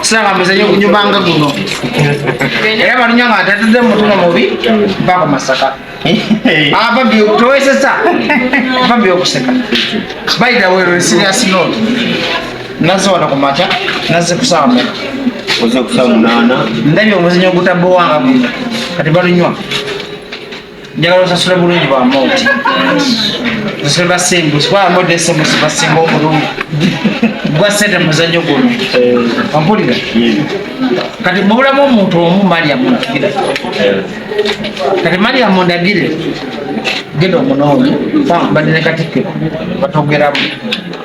siraba muzanyo gunyumanga guno era balunya nga tatudde mutuno mubi bako masaka ababi ah, towesesa ababi okuseka by the way we're serious note naze wano ku makya naze kusaba meka oze kusaba munana ndabye omuzanyo gutabowanga guno kati balunywa njagala osasula bulungi bwa moti osasula basimbu sikuba moti esemu sibasinga obulungi gwa sente muzanyo guno ampulira kati mubulamu omuntu omu mariamu ndagire kati mariamu ndagire genda omunoonyi badi ne katikkiro batogeramu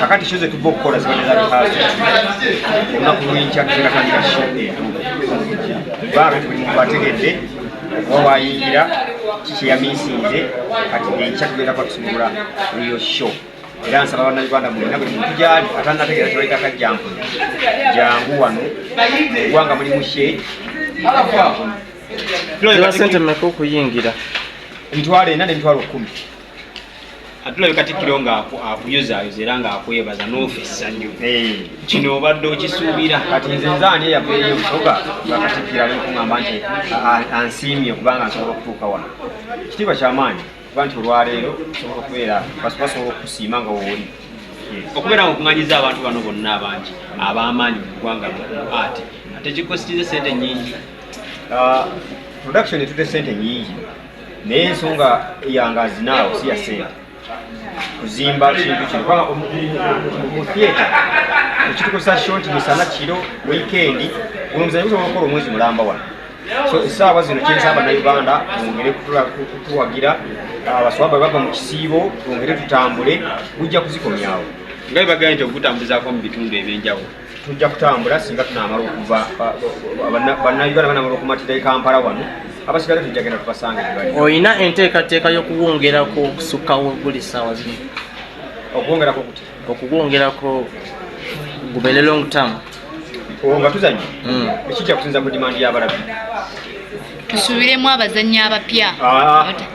kakati kyo zetuva okukola zibadde zabikaasi olunaku lwenkya tuzinatandika sho etu baaga tuli muntu ategedde oba wayingira kikyeyamisinze kati enkya tugenda kuba tusumulula riyo sho era nsaba bannayuganda mulina buli muntu gyali atanategeera kyebaitaka jangu jangu wano egwanga mulimu she sente meka okuyingira emitwalo ena nemitwalo kumi atulabe katikkiro nga akuyozaayoza era nga akwebaza noofa essanyu kino obadde okisuubira kati nze nzaani eyaveeyo okusoka nga katikkiro ali okungamba nti ansiimye kubanga nsobola okutuuka wano kitiibwa kyamaanyi kuba nti olwaleero osobola okubeera basobola okusiima nga wooli okubeera nga okunganyiza abantu bano bonna abangi ab'amaanyi mu ggwanga mu ati ate kikositiza sente nyingi ah, production etute sente nyingi naye ensonga yange azinaawo siya sente kuzimba kintu kino kuba mu theatre ekitukozesa short misana kiro wikendi omuzayi gusobola okukola omwezi mulamba wano so esaawa zino kyensaba banauganda bongere kutuwagira abaswaba bava mu kisiibo bongere tutambule gujja kuzikomyawo nga bebagambye nti okugutambuzako mu bitundu ebyenjawulo tujja kutambula singa tunamala okuva bannayuganda banamala okumatira ekampala wano abasigale tujja genda tubasanga olina enteekateeka y'okuwongerako okusukkawo buli ssaawa zino okuwongerako kuti okuwongerako gubele long term nga tuzannya hmm. ekijja kusinza ku dimandi y'abalabbi tusubiremu abazannyi abapya ah.